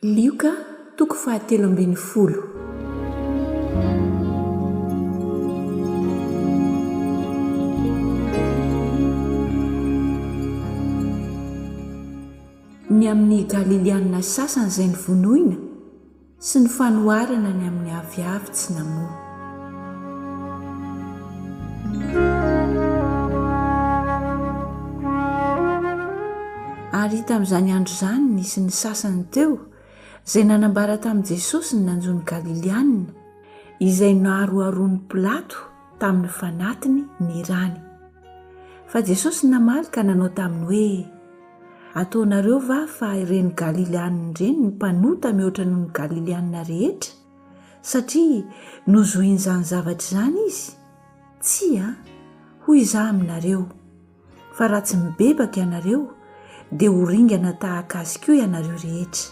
Lioka toko fahatelo ambin'ny folo. Ny amin'ny Galilianina sasany izay novonoina, sy ny fanoharana ny amin'ny aviavy tsy namoa. Ary tamin'izany andro izany nisy ny sasany teo izay nanambara tamin'i Jesosy ny nanjo ny Galilianina, izay naroharoan'i Pilato tamin'ny fanatiny ny rany. Fa Jesosy namaly ka nanao taminy hoe, Ataonareo va fa ireny Galilianina ireny ny mpanota mihoatra noho ny Galilianina rehetra? satria nozohin'izany zavatra izany izy? Tsia, hoy izaho aminareo, fa raha tsy mibebaka ianareo, dia ho ringana tahaka azy koa ianareo rehetra.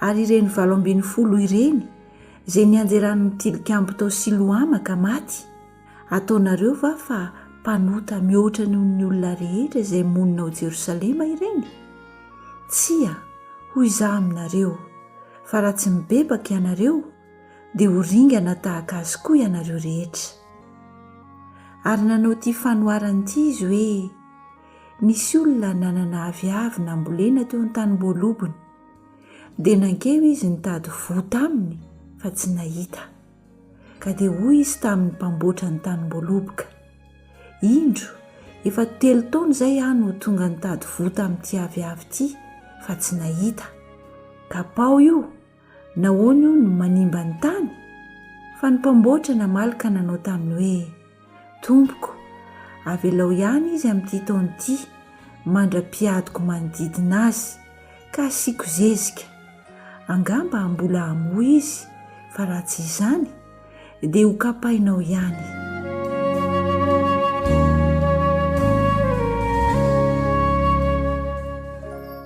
Ary ireny valo ambin'ny folo ireny, izay nianjeran'ny tilikambo tao Siloama ka maty, Ataonareo va fa mpanota mihoatra noho ny olona rehetra izay monina ao Jerosalema ireny? Tsia, hoy izaho aminareo, fa raha tsy mibebaka ianareo, dia ho ringana tahaka azy koa ianareo rehetra. Ary nanao ity fanoharana ity izy hoe, Nisy olona nanana aviavy nambolena teo an-tanim-boalobony, dia nankeo izy nitady voa taminy fa tsy nahita. Ka dia hoy izy tamin'ny mpamboatra ny tanimboaloboka, Indro, efa telo taona izay aho no tonga nitady voa tamin'ity aviavy ity, fa tsy nahita. Kapaho io! Nahoana io no manimba ny tany? Fa ny mpamboatra namaly ka nanao taminy hoe, Tompoko, avelao ihany izy amin'ity taona ity, mandra-piadiko manodidina azy, ka asiako zezika. Angamba mbola hamoa izy, fa raha tsy izany, dia ho kapainao ihany.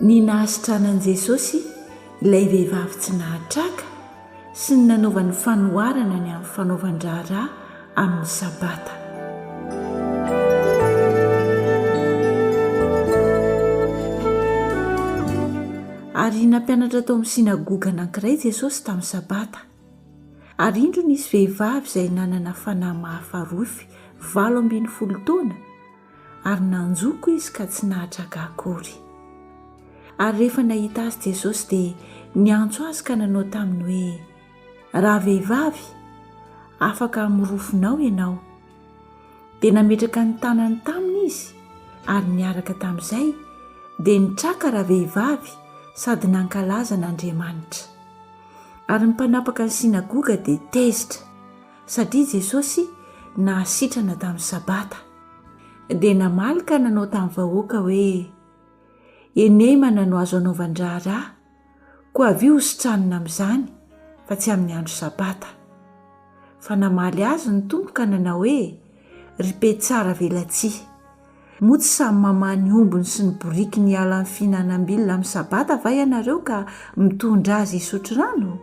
Ny nahasitranan'i Jesosy ilay vehivavy tsy nahatraka sy ny nanaovany fanoharana ny amin'ny fanaovan-draharaha amin'ny Sabata. Ary nampianatra tao amin'ny synagoga anankiray Jesosy tamin'ny Sabata. Ary indro nisy vehivavy izay nanana fanahy mahafarofy valo ambin'ny folo taona, ary nanjoko izy ka tsy nahatraka akory. Ary rehefa nahita azy Jesosy dia niantso azy ka nanao taminy hoe, Ravehivavy, afaka amin'ny rofinao ianao. Dia nametraka ny tanany taminy izy, ary niaraka tamin'izay dia nitraka ravehivavy sady nankalaza an'Andriamanitra. Ary ny mpanapaka ny synagoga dia tezitra. Satria Jesosy nahasitrana tamin'ny Sabata, dia namaly ka nanao tamin'ny vahoaka hoe, Enemana no azo anaovan-draharaha, koa avia hositranina amin'izany, fa tsy amin'ny andro Sabata. Fa namaly azy ny Tompo ka nanao hoe, Ry mpietsara velatsihy! Moa tsy samy mamaha ny ombiny sy ny borikiny hiala amin'ny fihinanam-bilona amin'ny Sabata va ianareo ka mitondra azy hisotro rano?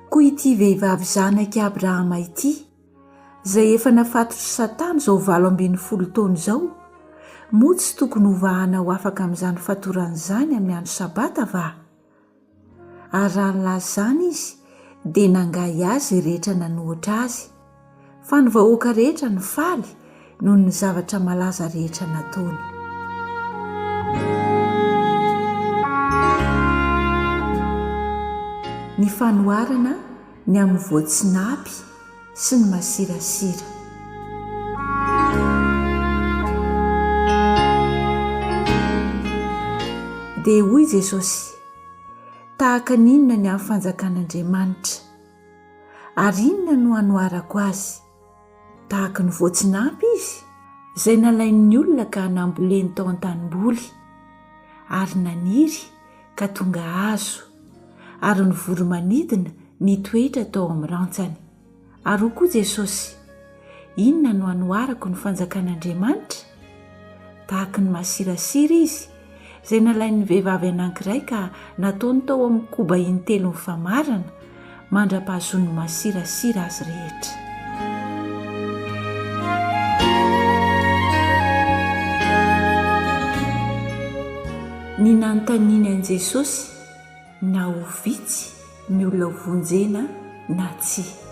Koa ity vehivavy zanak'i Abrahama ity, izay efa nafatotr'i Satana izao valo ambin'ny folo taona izao, moa tsy tokony hovahana ho afaka amin'izany fatorany izany amin'ny andro Sabata va? Ary raha nilaza izany izy, dia nangahy azy rehetra nanohitra azy, fa ny vahoaka rehetra nifaly noho ny zavatra malaza rehetra nataony. ny amin'ny voatsinapy sy ny masirasira. Dia hoy Jesosy, Tahaka ny inona ny amin'ny fanjakan'Andriamanitra? Ary inona no hanoharako azy? Tahaka ny voatsinapy izy, izay nalain'ny olona ka namboleny tao an-tanimboly, ary naniry ka tonga hazo, ary ny voro-manidina nitoetra tao amin'ny rantsany. Ary hoy koa Jesosy, Inona no hanoharako ny fanjakan'Andriamanitra? Vaky ny masirasira izy, izay nalain'ny vehivavy anankiray ka nataony tao amin'ny koba intelo mifamarana, mandra-pahazoan'ny masirasira azy rehetra. Ny nanontaniany an'i Jesosy. na ho vitsy ny olona ho vonjena na tsia.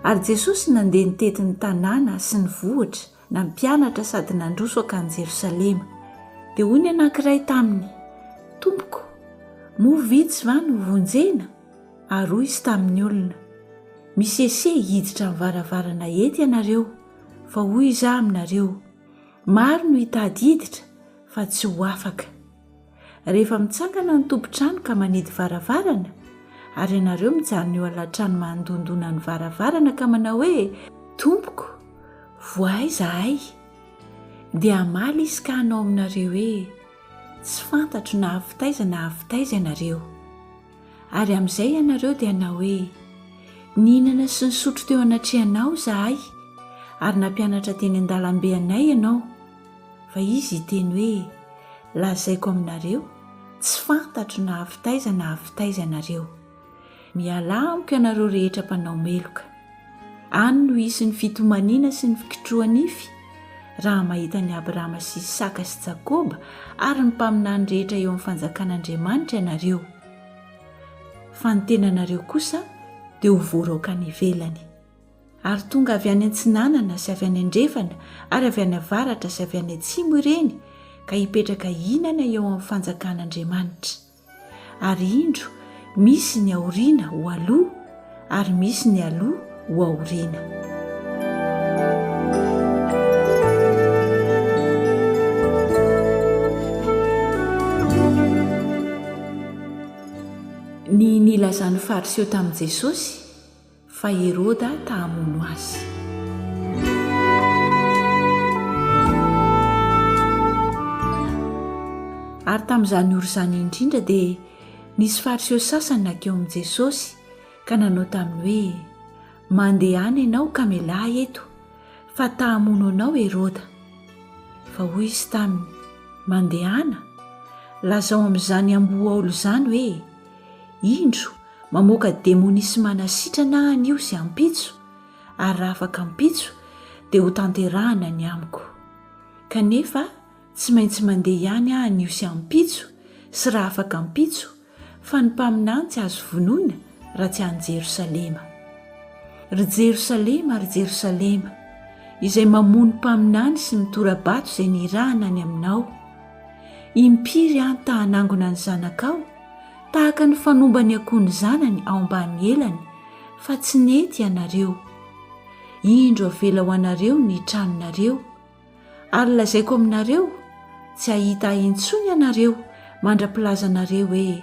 Ary Jesosy nandeha nitety ny tanàna sy ny vohitra, nampianatra sady nandroso hankany Jerosalema. Dia hoy ny anankiray taminy, Tompoko, moa vitsy va no ho vonjena? Ary hoy izy tamin'ny olona, Misesea hiditra amin'ny varavarana hety ianareo, Fa hoy izaho aminareo, maro no hitady hiditra fa tsy ho afaka. Rehefa mitsangana ny tompon-trano ka manidy varavarana, ary ianareo mijanona eo alatrano mandondona ny varavarana ka manao hoe, Tompoko, voahay izahay. Dia hamaly izy ka hanao aminareo hoe, Tsy fantatro na avy taiza na avy taiza ianareo. Ary amin'izay ianareo dia hanao hoe, Nihinana sy nisotro teo anatrehanao izahay, ary nampianatra teny an-dalambe anay ianao. Fa izy hiteny hoe, Lazaiko aminareo, tsy fantatro na avy taiza na avy taiza ianareo. Mialà amiko ianareo rehetra mpanao meloka. Any no hisy ny fitomaniana sy ny fikitroha-nify, raha mahita an'i Abrahama sy Isaka sy Jakoba ary ny mpaminany rehetra eo amin'ny Fanjakan'Andriamanitra ianareo. Fa ny tenanareo kosa dia ho voaraoka any ivelany. Ary tonga avy any antsinanana sy avy any andrefana ary avy any avaratra sy avy any atsimo ireny ka hipetraka hihinana eo amin'ny Fanjakan'Andriamanitra. Ary indro, misy ny aoriana ho aloha, ary misy ny aloha ho aoriana. Ny nilazan'ny Fariseo tamin'i Jesosy. Fa Heroda ta hamono azy. Ary tamin'izany ora izany indrindra dia nisy Fariseo sasany nankeo amin'i Jesosy ka nanao taminy hoe, Mandehana ianao ka mialà eto, fa ta hamono anao Heroda. Fa hoy izy taminy, Mandehana? Lazao amin'izany amboa aolo izany hoe, Indro, mamoaka demonia sy manasitrana ahy anio sy ampitso, ary raha afaka ampitso, dia hotanterahana ny amiko. Kanefa, tsy maintsy mandeha ihany aho anio sy ampitso, sy raha afaka ampitso, fa ny mpaminany tsy azo vonoina raha tsy any Jerosalema. Ry Jerosalema, ry Jerosalema, izay mamono mpaminany sy mitora-bato izay nirahana any aminao, Impiry aho ta hanangona ny zanakao tahaka ny fanomba ny akoho ny zanany ao ambany elany fa tsy nety ianareo. Indro avela ho anareo ny tranonareo. Ary lazaiko aminareo, tsy hahita ahy intsony ianareo mandra-pilazanareo hoe,